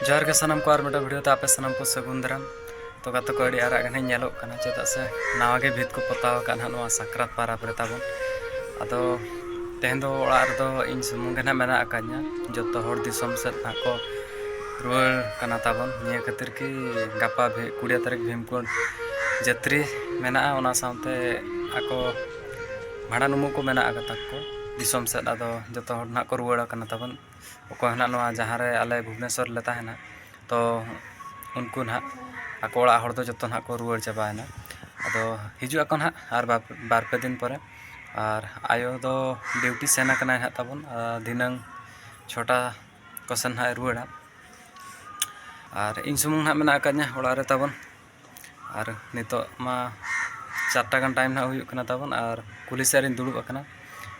ᱡᱚᱦᱟᱨ ᱜᱮ ᱥᱟᱱᱟᱢ ᱠᱚ ᱟᱨ ᱢᱤᱫᱴᱟᱝ ᱵᱷᱤᱰᱤᱭᱳ ᱛᱮ ᱟᱯᱮ ᱥᱟᱱᱟᱢ ᱠᱚ ᱥᱟᱹᱜᱩᱱ ᱫᱟᱨᱟᱢ ᱛᱚ ᱜᱟᱛᱮ ᱠᱚ ᱟᱹᱰᱤ ᱟᱨᱟᱜ ᱜᱮ ᱱᱟᱦᱟᱜ ᱧᱮᱞᱚᱜ ᱠᱟᱱᱟ ᱪᱮᱫᱟᱜ ᱥᱮ ᱱᱟᱣᱟ ᱜᱮ ᱵᱷᱤᱛ ᱠᱚ ᱯᱚᱛᱟᱣ ᱟᱠᱟᱫ ᱱᱟᱦᱟᱜ ᱱᱚᱣᱟ ᱥᱟᱠᱨᱟᱛ ᱯᱟᱨᱟᱵᱽ ᱨᱮ ᱛᱟᱵᱚᱱ ᱟᱫᱚ ᱛᱮᱦᱮᱧ ᱫᱚ ᱚᱲᱟᱜ ᱨᱮᱫᱚ ᱤᱧ ᱥᱩᱢᱩᱝ ᱜᱮ ᱱᱟᱦᱟᱜ ᱢᱮᱱᱟᱜ ᱟᱠᱟᱫᱤᱧᱟ ᱡᱚᱛᱚ ᱦᱚᱲ ᱫᱤᱥᱚᱢ ᱥᱮᱫ ᱱᱟᱦᱟᱜ ᱠᱚ ᱨᱩᱣᱟᱹᱲ ᱠᱟᱱᱟ ᱛᱟᱵᱚᱱ ᱱᱤᱭᱟᱹ ᱠᱷᱟᱹᱛᱤᱨ ᱠᱤ ᱜᱟᱯᱟ ᱠᱩᱲᱤ ᱛᱟᱹᱨᱤᱠᱷ ᱵᱷᱤᱢᱠᱩᱸᱰ ᱡᱟᱹᱛᱨᱤ ᱢᱮᱱᱟᱜᱼᱟ ᱚᱱᱟ ᱥᱟᱶᱛᱮ ᱟᱠᱚ ᱵᱷᱟᱸᱰᱟᱱ ᱩᱢᱩᱜ ᱠᱚ ᱢᱮᱱᱟᱜ ᱟᱠᱟᱫ ᱛᱟᱠᱚ ᱫᱤᱥᱚᱢ ᱥᱮᱫ ᱟᱫᱚ ᱡᱚᱛᱚ ᱦᱚᱲ ᱱᱟᱦᱟᱜ ᱠᱚ ᱨᱩᱣᱟᱹᱲ ᱠᱟᱱᱟ ᱛᱟᱵᱚᱱ ᱚᱠᱚᱭ ᱦᱚᱸ ᱱᱟᱦᱟᱜ ᱱᱚᱣᱟ ᱡᱟᱦᱟᱸ ᱨᱮ ᱟᱞᱮ ᱵᱷᱩᱵᱽᱱᱮᱥᱥᱚᱨ ᱨᱮᱞᱮ ᱛᱟᱦᱮᱱᱟ ᱛᱚ ᱩᱱᱠᱩ ᱱᱟᱦᱟᱜ ᱟᱠᱚ ᱚᱲᱟᱜ ᱦᱚᱲ ᱫᱚ ᱡᱚᱛᱚ ᱱᱟᱦᱟᱜ ᱠᱚ ᱨᱩᱣᱟᱹᱲ ᱪᱟᱵᱟᱭᱮᱱᱟ ᱟᱫᱚ ᱦᱤᱡᱩᱜ ᱟᱠᱚ ᱱᱟᱦᱟᱜ ᱟᱨ ᱵᱟᱨ ᱯᱮ ᱫᱤᱱ ᱯᱚᱨᱮ ᱟᱨ ᱟᱭᱳ ᱫᱚ ᱰᱤᱭᱩᱴᱤ ᱥᱮᱱ ᱠᱟᱱᱟᱭ ᱱᱟᱦᱟᱜ ᱛᱟᱵᱚᱱ ᱟᱨ ᱫᱷᱤᱱᱟᱹᱝ ᱪᱷᱚᱴᱟ ᱠᱚᱥᱮᱱ ᱱᱟᱦᱟᱜ ᱮ ᱨᱩᱣᱟᱹᱲᱟ ᱟᱨ ᱤᱧ ᱥᱩᱢᱩᱝ ᱱᱟᱦᱟᱜ ᱢᱮᱱᱟᱜ ᱟᱠᱟᱫᱤᱧᱟᱹ ᱚᱲᱟᱜ ᱨᱮ ᱛᱟᱵᱚᱱ ᱟᱨ ᱱᱤᱛᱚᱜ ᱢᱟ ᱪᱟᱨ ᱴᱟ ᱜᱟᱱ ᱴᱟᱭᱤᱢ ᱱᱟᱦᱟᱜ ᱦᱩᱭᱩᱜ ᱠᱟᱱᱟ ᱛᱟᱵᱚᱱ ᱟᱨ ᱠᱩᱞᱦᱤ ᱥᱮᱫ ᱨᱮᱧ ᱫᱩᱲᱩᱵ ᱟᱠᱟᱱᱟ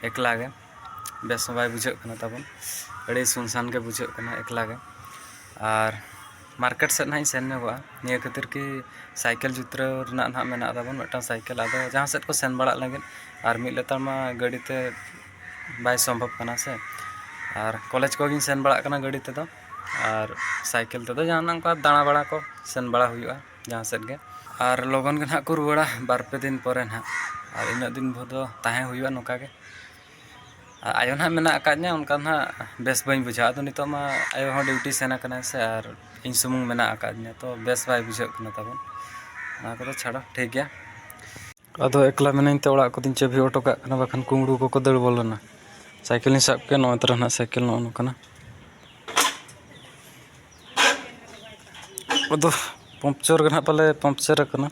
ᱮᱠᱞᱟ ᱜᱮ ᱵᱮᱥ ᱦᱚᱸ ᱵᱟᱭ ᱵᱩᱡᱷᱟᱹᱜ ᱠᱟᱱᱟ ᱛᱟᱵᱚᱱ ᱟᱹᱰᱤ ᱥᱩᱱ ᱥᱟᱱ ᱜᱮ ᱵᱩᱡᱷᱟᱹᱜ ᱠᱟᱱᱟ ᱮᱠᱞᱟ ᱜᱮ ᱟᱨ ᱢᱟᱨᱠᱮᱴ ᱥᱮᱫ ᱱᱟᱦᱟᱜ ᱤᱧ ᱥᱮᱱ ᱧᱚᱜᱚᱜᱼᱟ ᱱᱤᱭᱟᱹ ᱠᱷᱟᱹᱛᱤᱨ ᱠᱤ ᱥᱟᱭᱠᱮᱞ ᱡᱩᱛᱨᱟᱹᱣ ᱨᱮᱱᱟᱜ ᱱᱟᱦᱟᱜ ᱢᱮᱱᱟᱜ ᱛᱟᱵᱚᱱ ᱢᱤᱫᱴᱟᱱ ᱥᱟᱭᱠᱮᱞ ᱟᱫᱚ ᱡᱟᱦᱟᱸ ᱥᱮᱫ ᱠᱚ ᱥᱮᱱ ᱵᱟᱲᱟᱜ ᱞᱟᱹᱜᱤᱫ ᱟᱨ ᱢᱤᱫ ᱞᱮᱛᱟᱲ ᱢᱟ ᱜᱟᱹᱰᱤ ᱛᱮ ᱵᱟᱭ ᱥᱚᱢᱵᱷᱚᱵ ᱠᱟᱱᱟ ᱥᱮ ᱟᱨ ᱠᱚᱞᱮᱡᱽ ᱠᱚᱜᱮᱧ ᱥᱮᱱ ᱵᱟᱲᱟᱜ ᱠᱟᱱᱟ ᱜᱟᱹᱰᱤ ᱛᱮᱫᱚ ᱟᱨ ᱥᱟᱭᱠᱮᱞ ᱛᱮᱫᱚ ᱡᱟᱦᱟᱱᱟᱜ ᱚᱱᱠᱟ ᱫᱟᱬᱟ ᱵᱟᱲᱟ ᱠᱚ ᱥᱮᱱ ᱵᱟᱲᱟ ᱦᱩᱭᱩᱜᱼᱟ ᱡᱟᱦᱟᱸ ᱥᱮᱫ ᱜᱮ ᱟᱨ ᱞᱚᱜᱚᱱ ᱜᱮ ᱦᱟᱸᱜ ᱠᱚ ᱨᱩᱣᱟᱹᱲᱟ ᱵᱟᱨ ᱯᱮ ᱫᱤᱱ ᱯᱚᱨᱮ ᱦᱟᱸᱜ ᱟᱨ ᱤᱱᱟᱹᱜ ᱫᱤᱱ ᱵᱷᱳᱨ ᱫᱚ ᱛᱟᱦᱮᱸ ᱦᱩᱭᱩᱜᱼᱟ ᱱᱚᱝᱠᱟ ᱜᱮ ᱟᱨ ᱟᱭᱳ ᱦᱟᱸᱜ ᱢᱮᱱᱟᱜ ᱟᱠᱟᱫᱤᱧᱟ ᱚᱱᱠᱟ ᱫᱚ ᱦᱟᱸᱜ ᱵᱮᱥ ᱵᱟᱹᱧ ᱵᱩᱡᱷᱟᱹᱣᱟ ᱟᱫᱚ ᱱᱤᱛᱚᱜ ᱢᱟ ᱟᱭᱳ ᱦᱚᱸ ᱰᱤᱭᱩᱴᱤ ᱥᱮᱱ ᱠᱟᱱᱟᱭ ᱥᱮ ᱟᱨ ᱤᱧ ᱥᱩᱢᱩᱝ ᱢᱮᱱᱟᱜ ᱟᱠᱟᱫᱤᱧᱟ ᱛᱚ ᱵᱮᱥ ᱵᱟᱭ ᱵᱩᱡᱷᱟᱹᱜ ᱠᱟᱱᱟ ᱛᱟᱵᱚᱱ ᱚᱱᱟ ᱠᱚᱫᱚ ᱪᱷᱟᱲᱟ ᱴᱷᱤᱠ ᱜᱮᱭᱟ ᱟᱫᱚ ᱮᱠᱞᱟ ᱢᱤᱱᱟᱹᱧ ᱛᱮ ᱚᱲᱟᱜ ᱠᱚᱫᱚᱧ ᱪᱟᱹᱵᱤ ᱦᱚᱴᱚ ᱠᱟᱜ ᱠᱟᱱᱟ ᱵᱟᱠᱷᱟᱱ ᱠᱩᱢᱲᱩ ᱠᱚᱠᱚ ᱫᱟᱹᱲ ᱵᱚᱞᱚᱱᱟ ᱥᱟᱭᱠᱮᱞ ᱤᱧ ᱥᱟᱵ ᱠᱮᱜᱼᱟ ᱱᱚᱜᱼᱚᱭ ᱛᱚᱨᱟ ᱦᱟᱸᱜ ᱥᱟᱭᱠᱮᱞ ᱱᱚᱜᱼᱚ ᱱᱚᱝᱠᱟᱱᱟ ᱟᱫᱚ ᱯᱚᱝᱪᱚᱨ ᱜᱮ ᱦᱟᱸᱜ ᱯᱟᱞᱮ ᱯᱚᱝᱪᱚᱨ ᱠᱟᱱᱟ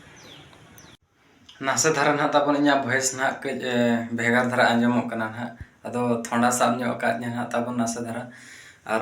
ᱱᱟᱥᱮ ᱫᱷᱟᱨᱟ ᱦᱟᱸᱜ ᱛᱟᱵᱚᱱ ᱤᱧᱟᱹᱜ ᱵᱷᱚᱭᱮᱥ ᱦᱟᱸᱜ ᱠᱟᱹᱡ ᱵᱷᱮᱜᱟᱨ ᱫᱷᱟᱨᱟ ᱟᱸᱡᱚᱢᱚᱜ ᱠᱟᱱᱟ ᱦᱟᱸᱜ ᱟᱫᱚ ᱛᱷᱚᱱᱰᱟ ᱥᱟᱵ ᱧᱚᱜ ᱠᱟᱜ ᱞᱤᱧᱟ ᱦᱟᱸᱜ ᱛᱟᱵᱚᱱ ᱱᱟᱥᱮ ᱫᱷᱟᱨᱟ ᱟᱨ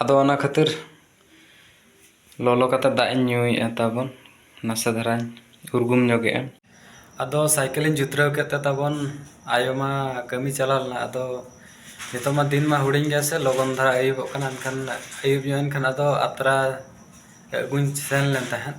ᱟᱫᱚ ᱚᱱᱟ ᱠᱷᱟᱹᱛᱤᱨ ᱞᱚᱞᱚ ᱠᱟᱛᱮ ᱫᱟᱜ ᱤᱧ ᱧᱩᱭᱮᱫᱼᱟ ᱛᱟᱵᱚᱱ ᱱᱟᱥᱮ ᱫᱷᱟᱨᱟᱧ ᱩᱨᱜᱩᱢ ᱧᱚᱜᱮᱜᱼᱟ ᱟᱫᱚ ᱥᱟᱭᱠᱮᱞ ᱤᱧ ᱡᱩᱛᱨᱟᱹᱣ ᱠᱮᱫ ᱛᱮ ᱛᱟᱵᱚᱱ ᱟᱭᱳ ᱢᱟ ᱠᱟᱹᱢᱤ ᱪᱟᱞᱟᱣ ᱞᱮᱱᱟ ᱟᱫᱚ ᱱᱤᱛᱚᱜ ᱢᱟ ᱫᱤᱱ ᱢᱟ ᱦᱩᱰᱤᱧ ᱜᱮᱭᱟ ᱥᱮ ᱞᱚᱜᱚᱱ ᱫᱷᱟᱨᱟ ᱟᱹᱭᱩᱵᱚᱜ ᱠᱟᱱᱟ ᱮᱱᱠᱷᱟᱱ ᱟᱹᱭᱩᱵ ᱧᱚᱜ ᱮᱱᱠᱷᱟᱱ ᱟᱫᱚ ᱟᱛᱨᱟ ᱟᱹᱜᱩᱧ ᱥᱮᱱ ᱞᱮᱱ ᱛᱟᱦᱮᱸᱫ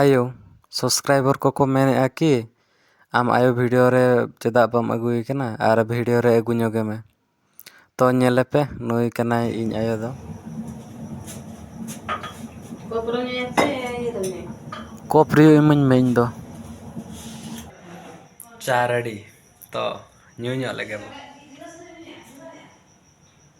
ᱟᱭᱳ ᱥᱚᱵᱥᱠᱨᱟᱭᱵᱚᱨ ᱠᱚᱠᱚ ᱢᱮᱱᱮᱫᱼᱟ ᱠᱤ ᱟᱢ ᱟᱭᱳ ᱵᱷᱤᱰᱤᱭᱳ ᱨᱮ ᱪᱮᱫᱟᱜ ᱵᱟᱢ ᱟᱹᱜᱩᱭᱮ ᱠᱟᱱᱟ ᱟᱨ ᱵᱷᱤᱰᱤᱭᱳ ᱨᱮ ᱟᱹᱜᱩ ᱧᱚᱜᱮ ᱢᱮ ᱛᱚ ᱧᱮᱞᱮᱯᱮ ᱱᱩᱭ ᱠᱟᱱᱟᱭ ᱤᱧ ᱟᱭᱳ ᱫᱚ ᱠᱚᱯ ᱨᱤᱭᱩ ᱤᱢᱟᱹᱧ ᱢᱮ ᱤᱧ ᱫᱚ ᱪᱟ ᱨᱮᱰᱤ ᱛᱚ ᱧᱩ ᱧᱚᱜ ᱞᱮᱜᱮ ᱵᱚᱱ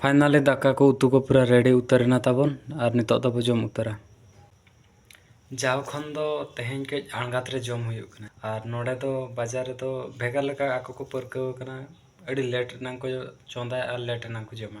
ᱯᱷᱟᱭᱱᱟᱞᱤ ᱫᱟᱠᱟ ᱠᱚ ᱩᱛᱩ ᱠᱚ ᱯᱩᱨᱟᱹ ᱨᱮᱰᱤ ᱩᱛᱟᱹᱨ ᱮᱱᱟ ᱛᱟᱵᱚᱱ ᱟᱨ ᱱᱤᱛᱚᱜ ᱫᱚᱵᱚ ᱡᱚᱢ ᱩᱛᱟᱹᱨᱟ ᱡᱟᱣ ᱠᱷᱚᱱ ᱫᱚ ᱛᱮᱦᱮᱧ ᱠᱟᱹᱡ ᱟᱬᱜᱟᱛ ᱨᱮ ᱡᱚᱢ ᱦᱩᱭᱩᱜ ᱠᱟᱱᱟ ᱟᱨ ᱱᱚᱰᱮ ᱫᱚ ᱵᱟᱡᱟᱨ ᱨᱮᱫᱚ ᱵᱷᱮᱜᱟᱨ ᱞᱮᱠᱟ ᱟᱠᱚ ᱠᱚ ᱯᱟᱹᱨᱠᱟᱹᱣ ᱟᱠᱟᱱᱟ ᱟᱹᱰᱤ ᱞᱮᱴ ᱨᱮᱱᱟᱝ ᱠᱚ ᱪᱚᱸᱫᱟᱭᱟ ᱟᱨ ᱞᱮᱴ ᱨᱮᱱᱟᱝ ᱠᱚ ᱡᱚᱢᱟ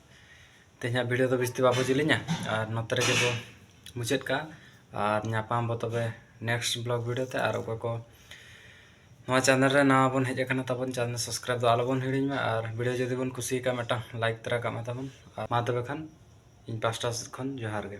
ᱛᱮᱦᱮᱧᱟᱜ ᱵᱷᱤᱰᱤᱭᱳ ᱫᱚ ᱵᱮᱥᱛᱮ ᱵᱟᱵᱚ ᱡᱤᱞᱤᱧᱟ ᱟᱨ ᱱᱚᱛᱮ ᱨᱮᱜᱮ ᱵᱚ ᱢᱩᱪᱟᱹᱫ ᱠᱟᱜᱼᱟ ᱟᱨ ᱧᱟᱯᱟᱢ ᱵᱚ ᱛᱚᱵᱮ ᱱᱮᱠᱥᱴ ᱵᱞᱚᱜ ᱵᱷᱤᱰᱤᱭᱳ ᱛᱮ ᱟᱨ ᱚᱠᱚᱭ ᱠᱚ ᱱᱚᱣᱟ ᱪᱮᱱᱮᱞ ᱨᱮ ᱱᱟᱣᱟ ᱵᱚᱱ ᱦᱮᱡ ᱟᱠᱟᱱᱟ ᱛᱟᱵᱚᱱ ᱪᱮᱱᱮᱞ ᱥᱟᱵᱥᱠᱨᱟᱭᱤᱵ ᱫᱚ ᱟᱞᱚᱵᱚᱱ ᱦᱤᱲᱤᱧ ᱢᱟ ᱟᱨ ᱵᱷᱤᱰᱤᱭᱳ ᱡᱩᱫᱤ ᱵᱚᱱ ᱠᱩᱥᱤᱭᱟᱠᱟᱜᱼᱟ ᱢᱤᱫᱴᱟᱝ ᱞᱟᱭᱤᱠ ᱛᱚᱨᱟ ᱠᱟᱜ ᱢᱮ ᱛᱟᱵᱚᱱ ᱟᱨ ᱢᱟ ᱛᱚᱵᱮ ᱠᱷᱟᱱ ᱤᱧ ᱯᱟᱥᱴᱟ ᱥᱮᱫ ᱠᱷᱚᱱ ᱡᱚᱦᱟᱨ ᱜᱮ